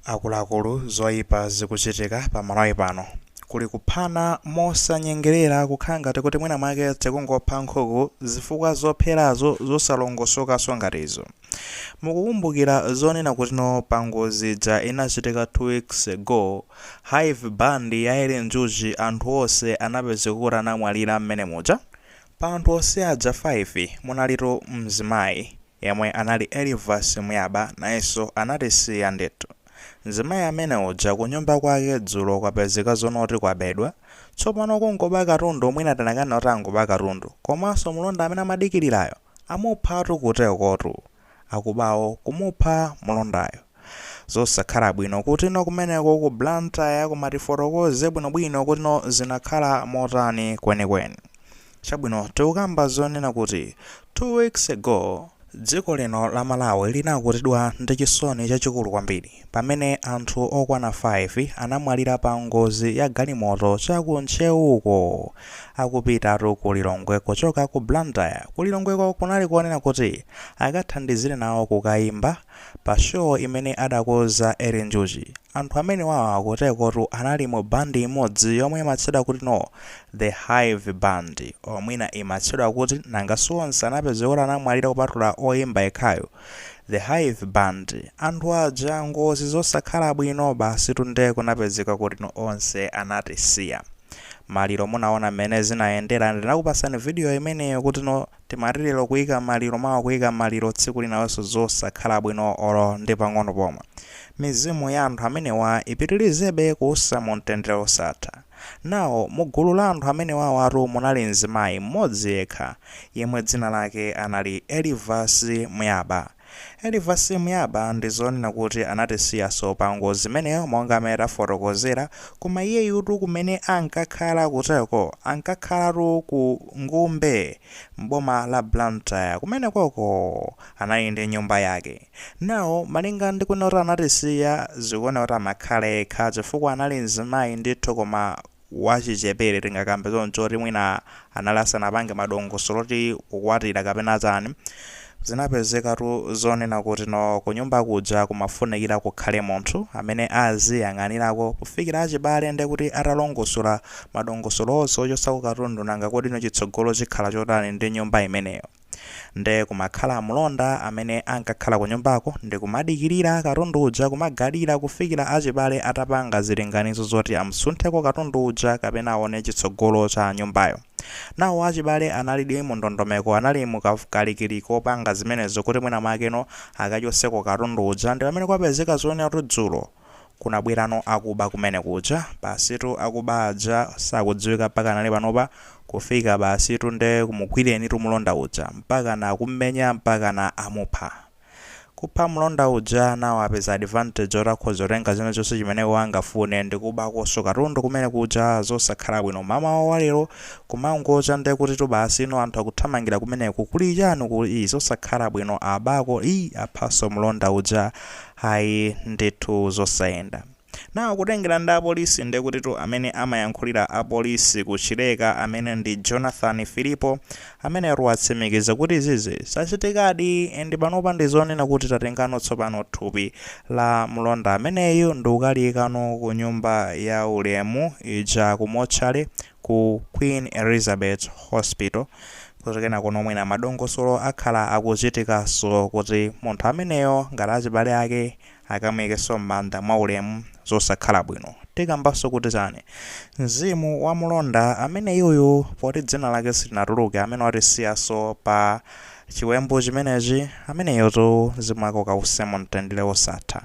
Akuluakulu zoipa zikuchitika pa Malawi pano. Kuli kuphana mosanyengelera kukhala ngati kuti mwina mwake tikungopha nkhuku zifukwa zopherazo zosalongosokaso ngati izo. Mukukumbukira zonena kutino pa ngozi ija inachitika two weeks ago hive band ya Eli Njuchi anthu onse anapezeka kuti anamwalira mmene muja? Pa anthu onse aja 5 munalitu mzimayi. yemwe anali Elivasi Muyaba nayenso anatisiya ndithu. Mzimayi amene uja kunyumba kwake dzulo kwapezeka zonoti kwabedwa, tsopano kungoba katundu mwina tinakanena kuti angoba katundu, komanso mlonda amene amadikilirayo amuphatu kutekotu. Akubawo kumupha mlondayo. zosakhala bwino kutino kumeneko ku blantyre koma tifotokoze bwinobwino kutino zinakhala motani kwenikweni chabwino tikukamba zonena kuti 2 weeks ago dziko lino la malawi linakutidwa ndi chisoni chachikulu kwambiri pamene anthu okwana 5 anamwalira pa ngozi ya galimoto cha ku ntcheu uko akupitatu ku lilongwe kuchoka ku blantyre ku lilongweko kunali konena kuti akathandizire nawo kukaimba Pa show imene adakoza Eli Njuchi, anthu amenewawa kutekotu anali mu band imodzi yomwe imatchedwa kuti no The Hive Band or mwina imatchedwa kuti nanga si onse anapezeka kuti anamwalira kupatula oyimba yekhayo The Hive Band anthu aja ngozi zosakhala bwino basitu nde kunapezeka kuti no onse anatisiya maliro munaona mmene zinayendera ndinakupasani video imeneyo kuti no Timati lero kuika maliro mawa kuika maliro tsiku linalonso zosakhala bwino olo ndi pang'ono pomwe. Mizimu ya anthu amenewa ipitilizebe kuusa mu mtendere osatha. Now mu gulu la anthu amenewawatu munali mzimayi mmodzi yekha yemwe dzina lake anali Elivasi Muyaba. Elivasi Muyaba ndi zonena kuti anatisiyaso pa ngozi imeneyo monga mmene tafotokozera koma iyeyutu kumene ankakhala kuteko ankakhalatu ku Ngumbe m'boma la Blantyre kumenekoko anali ndi nyumba yake now malinga ndi kunena kuti anatisiya zikuoneka kuti amakhala yekha chifukwa anali mzimayi ndithu koma wachichepere tingakambe choncho oti mwina anali asanapange madongosolo oti kukwatira kapena chani zinapezekatu zonena kuti no kunyumba kuja kumafunikira kukhale munthu amene aziyang'anirako kufikira achibale ndekuti atalongosola madongosolo onse ochosako katundu nanga kutino chitsogolo chikhala chotani ndi nyumba imeneyo nde kumakhala mlonda amene ankakhala kunyumbako ndikumadikilira katundu uja kumagadira kufikila achibale atapanga zilinganizo zoti amusuntheko katundu uja kapena aone chitsogolo cha nyumbayo. Nawo achibale analidi mundondomeko anali mukalikiliki kopanga zimenezo kuti mwina mwakeno akachoseko katundu uja ndipamene kwapezeka zonena kuti dzulo kunabwerano akuba kumene kuja. Basitu akuba aja sakudziwika mpakana panopa, kufika basitu nde kumugwiratu mlonda uja mpakana kummenya mpakana amupha. Kupha mlonda uja nawo apeza advantage oti akhoza kutenga china chonse chimene iwo angafune ndikubakonso katundu kumene kuja zosakhala bwino. Mamawa wa lero kumangocha nde kutitu basi inu anthu akuthamangira kumeneko kuli chani uku ii zosakhala bwino abako ii aphanso mlonda uja Ayi ndithu zosayenda. Now kutengera ndi apolisi ndekutitu amene amayankhulira apolisi ku Chileka amene ndi Jonathan Filipo ameneyotu watsimikiza kuti zizi zachitikadi and panopa ndizonena kuti tatengano tsopano thupi la mlonda ameneyo ndikukaliikano ku nyumba ya ulemu ija ku motchale ku Queen Elizabeth Hospital kuti kenakono mwina madongosolo akhala akuchitikaso kuti munthu ameneyo ngati achibale ake akamuikeso mmanda mwa ulemu zosakhala bwino tikambaso kuti chani mzimu wa mlonda ameneyuyu poti dzina lake silinatuluke amene watisiyaso pa chiwembu chimenechi ameneyotu mzimu wake ukause mu mtendere wosatha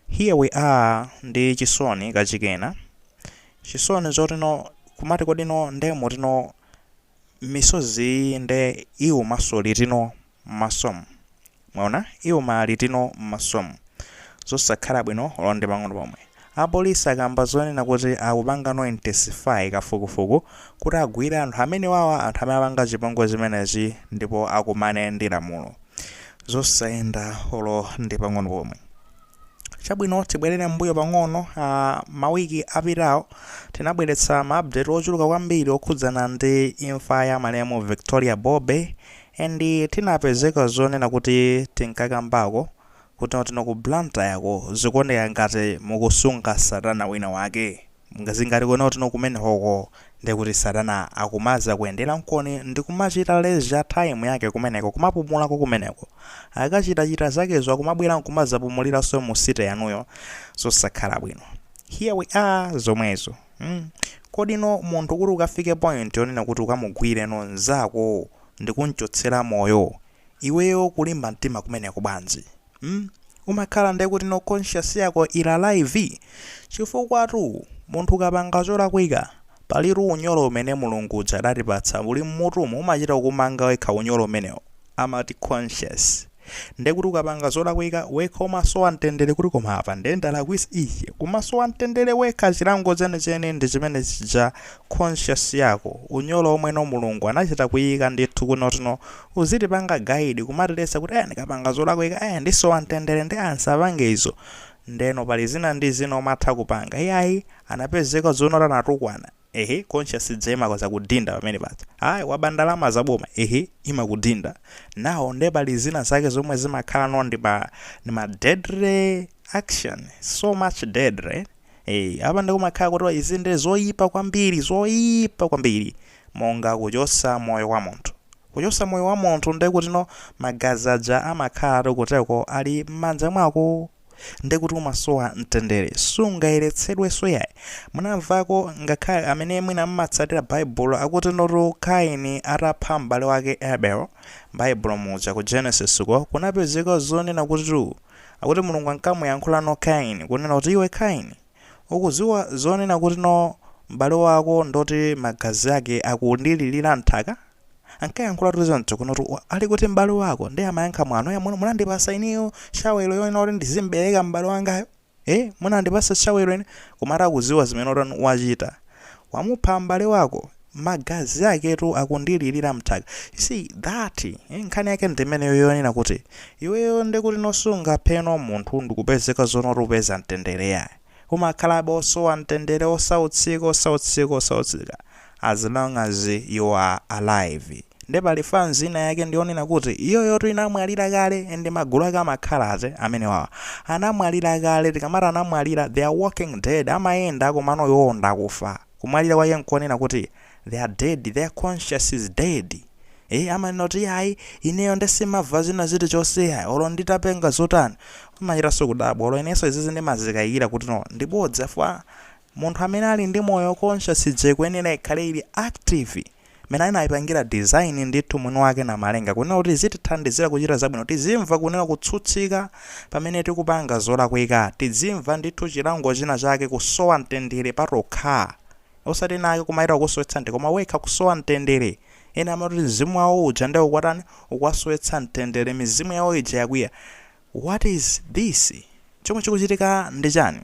here we are ndi chisoni kachikenanso Chisoni zotino kumati kodino nde mutino misozi iyi nde iwumanso litino mmasomu mwaona iwuma litino mmasomu zosakhala bwino olo ndi pang'ono pomwe. Apolisi akamba zonena kuti akupangano intensify kafukufuku kuti agwire anthu amenewawa anthu amene apanga chipongwe chimenechi ndipo akumane ndi lamulo. Zosayenda olo ndi pang'ono pomwe. Chabwino, tibwerere mmbuyo pang'ono, a, mawiki apitawo, tinabweretsa ma update ochuluka kwambiri okhudzana ndi imfa ya malemu Victoria Bobe, and tinapezeka zonena kuti tinkakambako kuti, kutino ku Blantyre-ko zikuoneka ngati mukusunga satana wina wake. Zili ngati kuona kutino kumenekoko ndekuti satana akumazakuyenderanikoni ndikumachita leisure time yake kumeneko kumapumulako kumeneko. Akachita chita zakezo akumabwera nkumazapumuliranso mu city yanuyo. Zosakhala bwino. Here we are zomwezo mm. Kodino munthu kuti ukafike point yonena kuti ukamugwireno nzako ndikunchotsera moyo iweyo kulimba mtima kumeneko bwanji? mm umakhala nde kuti no conscious yako ili alive? chifukwatu munthu ukapanga cholakwika palitu unyolo umene mulungu uja adatipatsa uli mmutumu umachita kukumanga wekha unyolo umenewo amati conscious nde kuti ukapanga zolakwika wekha umasowa mtendere kuti koma apa nde ndalakwisa ishi kumasowa mtendere wekha chilango chenicheni ndi chimene chija conscious yako unyolo omweno mulungu anachita kuyika ndithu kutino uzitipanga guide kumatiletsa kuti eh ndikapanga zolakwika eh ndisowa mtendere ndi ah nsapange izo ndeno pali zina ndi zina umatha kupanga iyayi anapezeka zonoti anatukwana ehe conscious ija imakudzakudinda pamene paja ayi waba ndalama zaboma ehe imakudinda nawo nde pali zina zake zomwe zimakhala no ndi ma ndi ma deadly action so much deadly Hey, apa ndikumakhala kuti izi ndi zoyipa kwambiri zoyipa kwambiri monga kuchosa moyo wa munthu kuchosa moyo wa munthu nde kuti no magazi aja amakhala ati kuteko ali m'manja mwako nde kuti umasowa mtendere sungayeretsedwenso yayi munamvako ngakhale amene mwina mmatsatira baibulo akutinotu kaini atapha m'bale wake abel m'baibulo muja ku genesis ko kunapezeka zonena kuti tu akuti Mulungu ankamuyankhula no Kaini kunena kuti iwe Kaini ukuziwa zonena kutino m'bale wako ndoti magazi ake akundililira mthaka ankayankhula kuti zoncho kuno kuti "Wa- ali kuti m'bale wako ndiye amayankha mwano ya muno munandipasa ineyo shawelo yonena kuti ndizimbereka m'bale wangayo eh munandipasa shawelo ine koma atakuziwa zimene oti wachita wamupha m'bale wako magazi aketu akundililira mthaka you see that eh, nkhani yake ndimeneyo yonena kuti iweyo ndikuti no sungaphe no munthu nkupezeka zonoti upeza mtendere yayi umakhalabe osowa mtendere osautsika osautsika osautsika as long as you are alive nde pali fans ina yake ndiyonena kuti iyoyoti inamwalira kale and magulu ake amakhala ati amenewawa anamwalira kale tikamati anamwalira they are walking dead amayenda komano iwowo ndi akufa Kumwalira kwake nkonena kuti they are dead, their conscious is dead ee amanena kuti iyayi ineyo nde simava zina zilichonse iyayi olo nditapanga zotani umachitanso kudabwa olo inenso izizi ndimazikayikira kuti no ndibodza chifukwa munthu amene ali ndi moyo conscious ija ikuyenera ikhale ili active mmene anaipangila design ndithu mwini wake Namalenga kunena kuti izitithandizila kuchita zabwino, tizimva kunena kutsutsika pamene tikupanga zolakwika, tidzimva ndithu chilango china chake kusowa mtendere patokha osati ena ake kumaita kukusowetsa mte koma wekha kusowa mtendere ena amati mzimu wawo uja nde ukuwatani, ukuwasowetsa mtendere mizimu yawo ija yakwiya What is this? Chomwe chikuchitika ndi chani?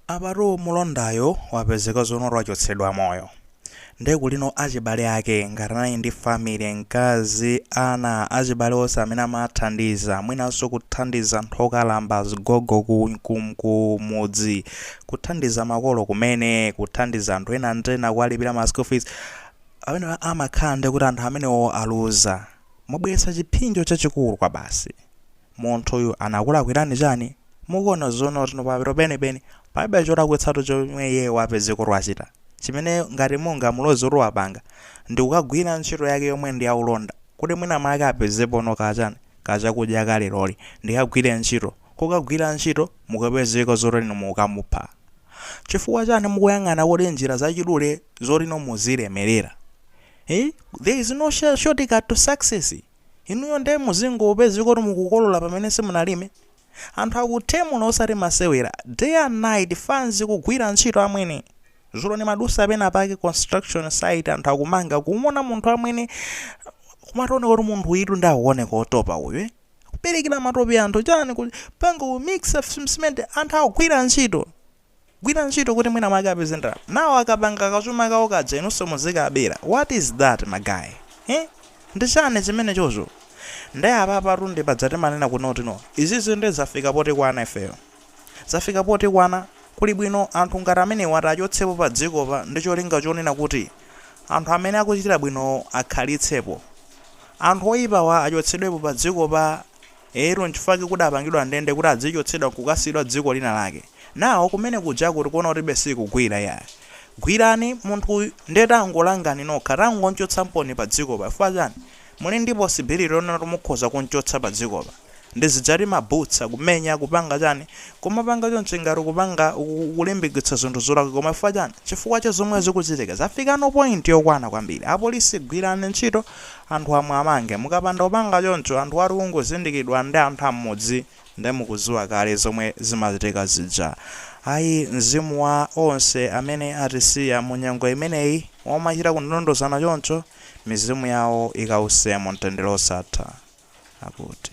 Apatu mulondayo wapezeka zonoti wachotsedwa moyo. Nde kulino achibale ake ngati anali ndi family, mkazi, ana, achibale onse amene amaathandiza, mwinanso kuthandiza anthu okalamba, azigogo ku ku ku mudzi, kuthandiza makolo kumene, kuthandiza anthu ena ndi ena kuwalipira ma school fees, pamenepa amakhala ndekuti anthu amenewo aluza. Mwabweretsa chiphinjo chachikulu kwabasi. Munthuyu anakulakwirani chani? Mukuona zonotino pamapeto penipeni palibe cholakwitsatu chomwe iyeyo wapezeka wachita. Chimene ngati mungamuloze kuti wapanga ndi kukagwira ntchito yake yomwe ndi yaulonda kuti mwina mwake apezepono ka chani ka chakudya ka leroli, ndikagwire ntchito. Kukagwira ntchito nkukapezeka zotino mukukamupha. Chifukwa chani mukuyang'ana kodi njira zachidule zotino muzilemerera? Eeh there is no shortcut to success inuyo nde muzingopezeka kuti mukukolola pamene simunalime anthu akuthemula osati masewera day and night fanz kugwira ntchito amwene zulo ndimadusa pena pake construction site anthu akumanga kumona munthu amwene kumachita kuoneka kuti munthu uyutu ndi akuoneka otopa uyu eh? kuperekera matope anthu chani kupanga kumixa cement anthu akugwira ntchito Kugwira ntchito kuti mwina mwake apeze ndalama. Nawo akapanga kachuma kawo kaja inunso muzikabera. What is that my guy? He? Ndi chani chimenechocho? Nde apapatu ndi paja timanena kunoti no. Izizi nde zafika potikwana ifeyo. Zafika potikwana. Kuli bwino anthu ngati amenewatu achotsedwepo pa dzikopa ndi cholinga chonena kuti anthu amene akuchita bwinowo akhalitsepo. Anthu oipawa achotsedwepo pa dzikopa. Eetu, nchifukwa chake kudapangidwa ndende kuti adzichotsedwa nkukasiyidwa dziko lina lake. Nawo kumene kujaku tikuona kuti be sizikugwira iyayi. Gwirani munthuyu ndiye tangolangani nokha, tangomchotsanimponi padzikopa chifukwa chani? Muli ndi possibility yonena kuti mukhoza kumchotsa padzikopa? Ndi zija ati amabutsa, kumenya, kupanga chani? Kumapanga chonchi ngati ukupanga, ukulimbikitsa zinthu zolakwika koma chifukwa chani? Chifukwa cha zomwe zikuchitika. Zafikano point yokwana kwambiri. Apolisi gwirani ntchito, anthu amenewa amangidwe mukapanda kupanga choncho anthuwatu akangozindikiridwa ndi anthu ammudzi nde mukuziwa kale zomwe zimachitika zija ayi mzimu wa onse amene atisiya mu nyengo imeneyi yomachita kundondozana choncho mizimu yawo ikause mu mtendere osatha akuti.